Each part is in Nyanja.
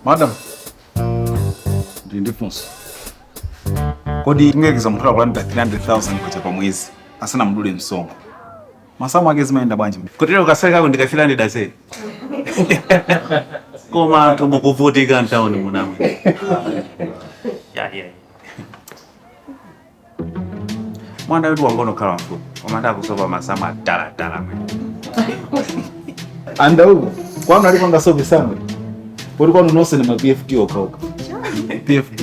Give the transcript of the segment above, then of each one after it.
madam ndili ndi funso kodi tingoyerekeza munthu akulandira 300000 kwacha pa mwezi asanamudule msonkho Masamu ake zimayenda bwanji? Kotero kasalary kako ndi ka 300000. Koma anthu mukuvutika mtauni munomu. Yeah, yeah. Mwana wetu wangokhala mfupi. Koma ndakusopa masamu atalatala mwe. Anda uko. Kwanu alipo ngasopi sana. Poti kwanu nonse ni ma PFT okhaokha. PFT.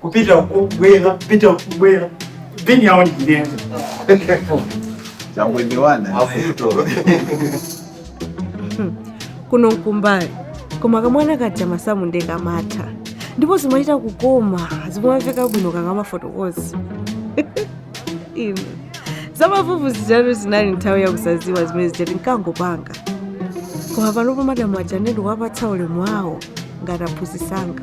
kupita kubwera kupita kubwera bini yawo ndiyenza kuno mkumbali koma kamwana kaja masamu nde kamatha ndipo zimachita kukoma zimamveka bwino kakamafotokoza inu zamavuvu zijatu zinali nthawi yakusaziwa zimene zija tinkangopanga koma panopo madamu aja ndikuwapatsa ulemu wawo ngati aphunzisanga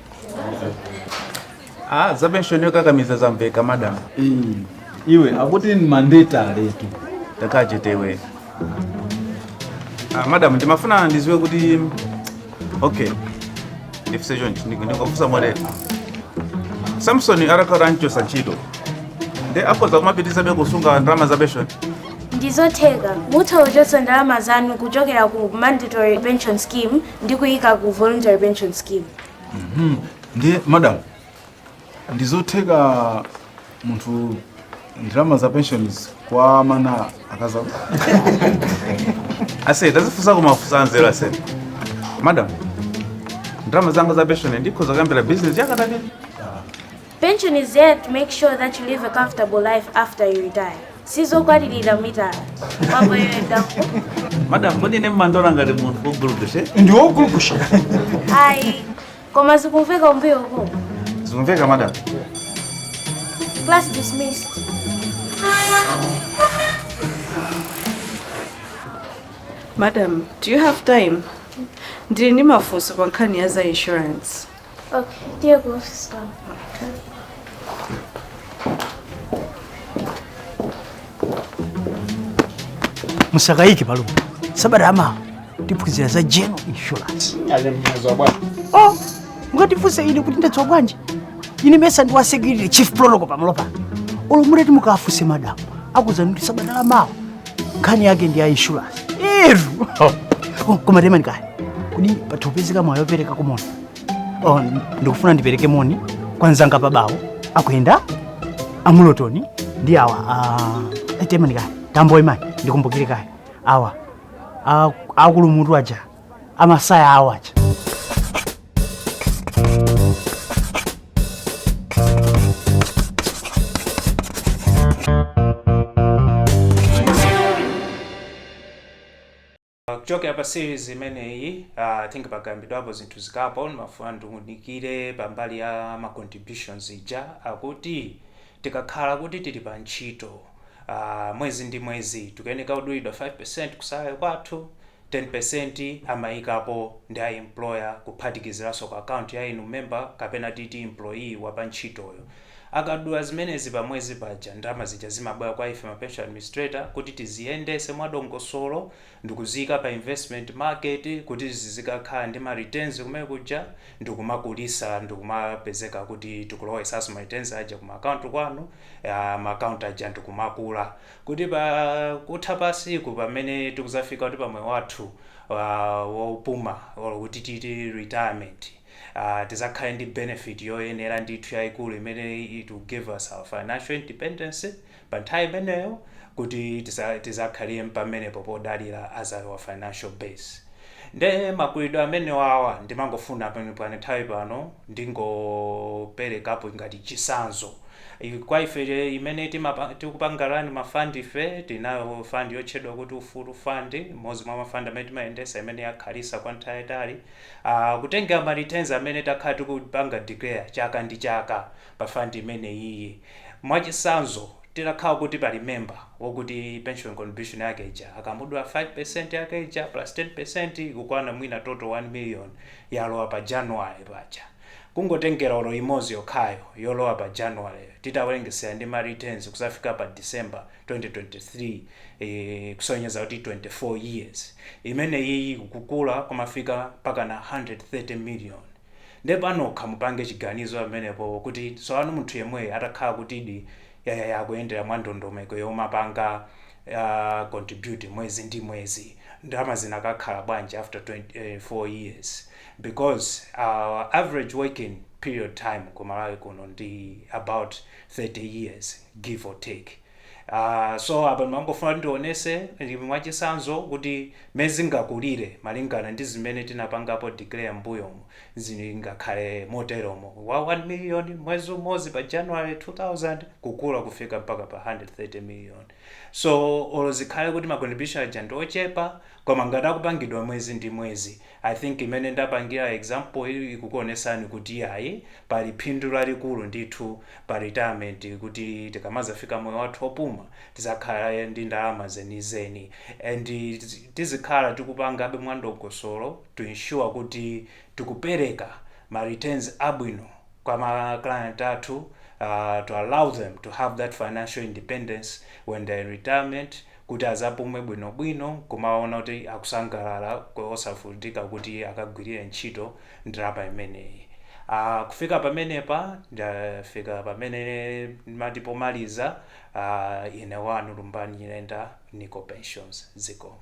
Ah, za penshoni yokakamiza zamveka madam. iwe akuti ni mandatory tu Takhala chetewe. Ah, madam ndimafuna ndiziwe kuti okay. Ndifuse chonchi ndikufusa motere. Samson atakhala anchosa ntchito. Nde akhoza kumapitizabe kusunga ndalama za penshoni. ndizotheka mutha kuchotsa ndalama zanu kuchokera ku mandatory pension scheme ndikuyika ku voluntary pension scheme Mhm. ndiye madam ndizotheka munthu ndalama za pensions kwa mana akaza ase tazifunsako mafunso anzeru ase madam ndalama zanga za pension ndikhoza kuyambira business yakatake Pension is there to make sure that you live a comfortable life after you retire. Sizokwatirira mitala. Mambo yo edako. Madam, kodi ine mumandiona ngati munthu ogulukushe? Ndi ogulukushe. Ayi. Koma zikumveka kumbuyo uko. Zikumveka madam. Class dismissed. Madam, do you have time? Ndili ndi mafunso pa nkhani ya za insurance. Okay, dear Wolf, stop. musakayike palumu sabata lamawa tiphunzira za general insurance oh mukandifunsa ine kuti ndadziwa bwanji ine mesa ndi wa security chief protocol pamalopa olo mutati mukafunse madamu akuuzani kuti sabata lamawa nkhani yake ndi ya insurance iru oh, koma temani kaye kodi pathopezeka mwayi opereka ka moni oh, ndikufuna ndipereke moni kwa nzanga pabawo akuyenda amulotoni ndi awa uh, temani kaye tamboyimani ndikumbukire kaye awa akulu mutu aja amasaya awo aja kuchokera pa series imeneyi uh, I think pakambidwapo zinthu zingapo ndimafuna ndiunikire pambali ya ma contributions ija akuti tikakhala kuti tili pa ntchito uh, mwezi ndi mwezi tikuyeneka kudulidwa 5% ku salary kwathu 10% amayikapo ndi a employer kuphatikiziranso ku account ya inu member kapena titi employee wa pa ntchitoyo. Akadula zimenezi pa mwezi paja ndalama zija zimabwera kwa ife ma pension administrator kuti tiziyendese mwa dongosolo ndikuziyika pa investment market kuti zizikakhala ndi ma returns kumene kuja ndikumakulisa ndikumapezeka kuti tikulowesanso ma returns aja ku ma account kwanu ma account aja ndikumakula. Kuti pa kutha pa siku pamene tikuzafika kuti pa moyo wathu wopuma olo kuti titi retirement tizakhale ndi benefit yoyenera ndithu yaikulu imene it will give us our financial independence pa nthawi imeneyo kuti tizakhale mpamenepo podalira as our financial base nde makulidwe amenewawa ndimangofuna pa nthawi pano ndingopelekapo ngati chisanzo Kwa ife imene timapa, tikupanga run ma fund fe, tinayo fund yotchedwa kuti Ufulu Fund, imodzi mwa ma fund amene timayendesa imene yakhalisa kwa nthawi yaitali, aah kutengera ma returns amene takhala tikupanga declare chaka ndi chaka pa fund imeneyiyi. Mwachisanzo, titakhala kuti pali member wokuti pension contribution yake ija akamudula 5% yake ija plus 10% ikukwana mwina total 1 million yalowa pa January paja, Kungotengera olo imozi yokhayo yolowa pa January yo titawerengesera ndi ma returns kuzafika pa December 2023 kusonyeza kuti 24 years imeneyiyi ikukula kumafika mpakana 130 million nde panokha mupange chiganizo pamenepo kuti tsopano munthu yemweyo atakhala kutidi akuyendera mwa ndondomeko yomapanga contribute mwezi ndi mwezi ndalama zinakakhala bwanji after 24 years. because our average working period time ku Malawi kuno ndi about 30 years give or take uh, so apa ndimangofuna kuti ndionese mwachisanzo kuti mmene zingakulire malingana ndi zimene tinapangapo declare mbuyomu zingakhale moteromo wa 1 million mwezi umodzi pa january 2000 kukula kufika mpaka pa 130 million so olo zikhale kuti ma contribution aja ndi ochepa koma ngati akupangidwa mwezi ndi mwezi I think imene ndapangira example yi ikukuonesani kuti iyayi pali phindu lalikulu ndithu pa retirement kuti tikamazafika moyo wathu wopuma tizakhale ndi ndalama zenizeni and tizikhala tikupangabe mwandongosolo to ensure kuti tikupereka ma returns abwino kwa ma client athu to allow them to have that financial independence when they are in retirement kuti adzapume bwinobwino nkumaona kuti akusangalala osavutika kuti akagwirire ntchito ndalama imeneyi. Aaa kufika pamenepa ndafika pamene ndimati pomaliza aah ine wanu Lumbani Nyirenda NICO Pensions zikomo.